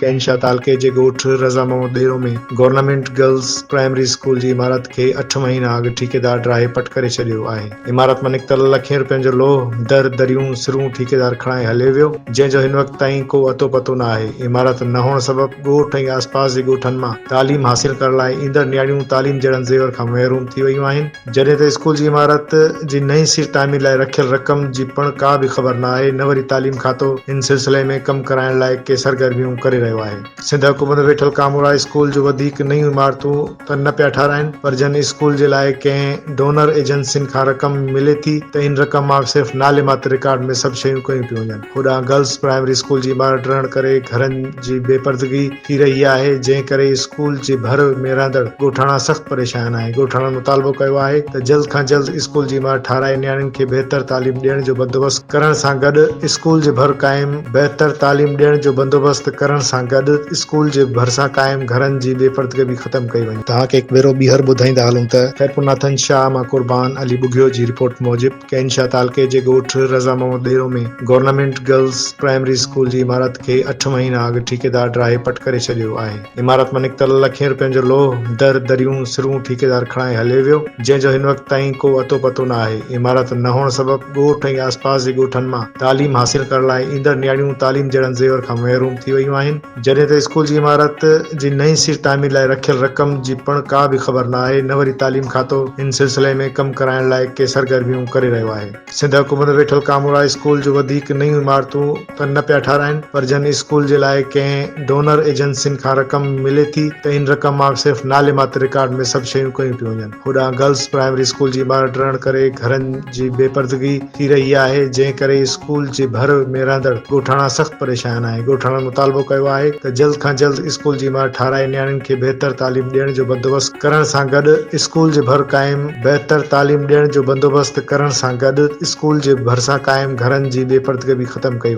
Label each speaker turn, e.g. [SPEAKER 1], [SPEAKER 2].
[SPEAKER 1] ڪينشا تعلقي جي ڳوٺ Raza Muhammad ٻيرو ۾ government girls primary school جي عمارت کي اٺ مهينا اڳ ٺيڪيدار ڊاهي پٽ ڪري ڇڏيو آهي. عمارت مان نڪتل لکين روپين جو لوهه، در، دريون، سرون ٺيڪيدار کڻائي هليو ويو، جنهن جو هن وقت تائين ڪو اتو پتو نه آهي. عمارت نه هئڻ سبب ڳوٺ ۽ آسپاس جي ڳوٺن مان تعليم حاصل ڪرڻ لاء ايندڙ نياڻيون تعليم جهڙن زيور کان محروم ٿي ويون آهن. جڏهن ته اسڪول جي عمارت جي نئين سر تعمير لاء رکيل رقم جي پڻ ڪا به خبر نه آهي نه وري تعليم کاتو ان سلسلي ۾ ڪم ڪرائڻ لاء ڪي سرگرميون ڪري رهيو آهي. سنڌ حڪومت ويٺل ڪامورا اسڪول جو وڌيڪ نيون عمارتون ته نه پيا ٺاراهين پر جن اسڪول جي لاء ڪنهن ڊونر ايجنسين کان رقم ملي ٿي ته ان رقم مان صرف نالي ماتر رڪارڊ ۾ سڀ شيون ڪيون پيون وڃن. هوڏانهن گرلس پرائمري اسڪول جي عمارت ڊهڻ ڪري گهرن جي بي پردگي، ٿي رهي آهي جنهن ڪري اسڪول جي ڀر ۾ رهندڙ ڳوٺاڻا سخت پريشان آهن ڳوٺاڻن مطالبو ڪيو آهي ته جلد کان جلد اسڪول جي عمارت ٺاهرائي نياڻين کي بهتر تعليم ڏيڻ جو بندوبست ڪرڻ سان گڏ اسڪول جي ڀر قائم بهتر تعليم ڏيڻ جو بندوبست ڪرڻ سان گڏ اسڪول جي ڀرسان قائم گهرن جي بي پردگي به ختم ڪئي وڃي. توهان کي هڪ ڀيرو ٻيهر ٻڌائيندا هلون ته خيرپورناٿن شاهه مان قربان علي ٻگهيو جي رپورٽ موجب، ڪينشا تعلقي جي ڳوٺ Raza Muhammad ٻيرو ۾ government girls primary school جي عمارت کي اٺ مهينا اڳ ٺيڪيدار ڊاهي پٽ ڪري ڇڏيو آهي. عمارت مان نڪتل لکين روپين جو لوهه، در، دريون، سرون ٺيڪيدار کڻائي هليو ويو، جنهن جو هن وقت تائين ڪو اتو پتو نه آهي. عمارت نه هئڻ سبب ڳوٺ ۽ آسپاس جي ڳوٺن مان تعليم حاصل ڪرڻ لاء ايندڙ نياڻيون تعليم جهڙن زيور کان محروم ٿي ويون آهن. جڏهن ته اسڪول جي عمارت جي نئين سر تعمير لاء رکيل رقم جي پڻ ڪا به خبر نه آهي نه وري تعليم کاتو ان سلسلي ۾ ڪم ڪرائڻ لاء ڪي سرگرميون ڪري رهيو آهي سنڌ حڪومت ويٺل ڪامورا اسڪول جون وڌيڪ نيون عمارتون ته نه پيا ٺاراهن پر جن اسڪول جي لاء ڪنهن ڊونر ايجنسين کان رقم ملي ٿي ته ان رقم مان صرف نالي ماتر رڪارڊ ۾ سڀ شيون ڪيون پيون وڃن هوڏانهن گرلس پرائمري اسڪول جي عمارت ڊهڻ ڪري گهرن جي بي پردگي ٿي رهي آهي جنهن ڪري اسڪول جي ڀر ۾ رهندڙ ڳوٺاڻا سخت پريشان آهن ڳوٺاڻن مطالبو ڪيو آهي ته جلد کان جلد اسڪول جي عمارت ٺاهرائي نياڻين کي بهتر تعليم ڏيڻ جو بندوبست ڪرڻ سان گڏ اسڪول جي ڀر قائم بهتر تعليم ڏيڻ جو بندوبست ڪرڻ سان گڏ اسڪول جي ڀرسان قائم گهرن جي بي پردگبي ختم ڪئي وڃي.